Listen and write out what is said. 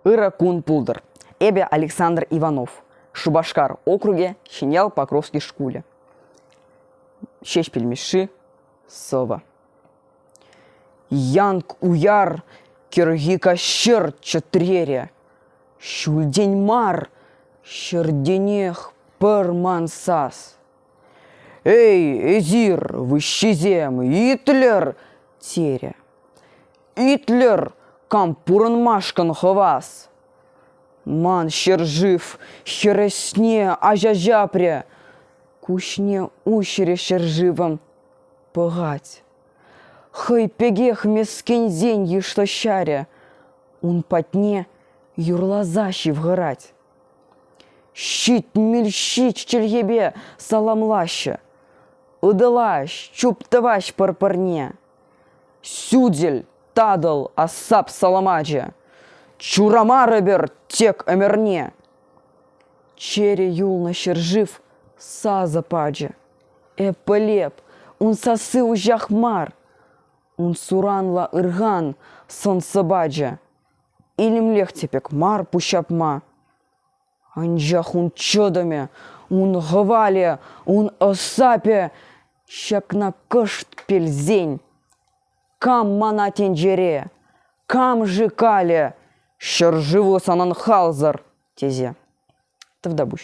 Ырӑ кун пултӑр, эпӗ Александр Иванов, Шупашкар округӗ Ҫӗньял Покровский шкулӗ. Ҫеҫпӗл Мишши, сӑвӑ. Янк уяр кӗрхи каҫӑр чӗтрере, Ҫӳлтен мар ҫӗртенех пӗр ман сас. Эй, эсир, выҫҫисем, итлӗр! терӗ. Итлӗр, кам пурӑнмашкӑн хӑвас! Ман ҫӗршыв хӗресне аҫа ҫапрӗ. Куҫне уҫрӗ ҫӗршывӑм пӑхать. Хӑй пекех мескенсен йышлӑҫарӗ. Ун патне юрласа ҫывхӑрать. Ҫитмӗл-ҫич чӗлхепе саламлаҫҫӗ. Ытӑлаҫ, чуптӑваҫ пӗр-пӗрне. Сӳтӗл татӑл асап саламачӗ Чурамарӑпӑр тек ӗмӗрне Чӗрӗ юлнӑ ҫӗршыв сасӑ пачӗ Эппӗлеп, ун сасси уҫах мар Ун суранлӑ ырхан сӑн-сӑпачӗ Илемлех те пек мар пуҫҫапма Анчах ун чӑтӑмӗ, ун хӑвалӗ, ун ӑсапӗ ҫакна кӑшт пелсен. Кам мана тӗнчере, кам-ши калӗ, ҫӗршыву санӑн халсӑр, тесе. Тӑвтапуҫ.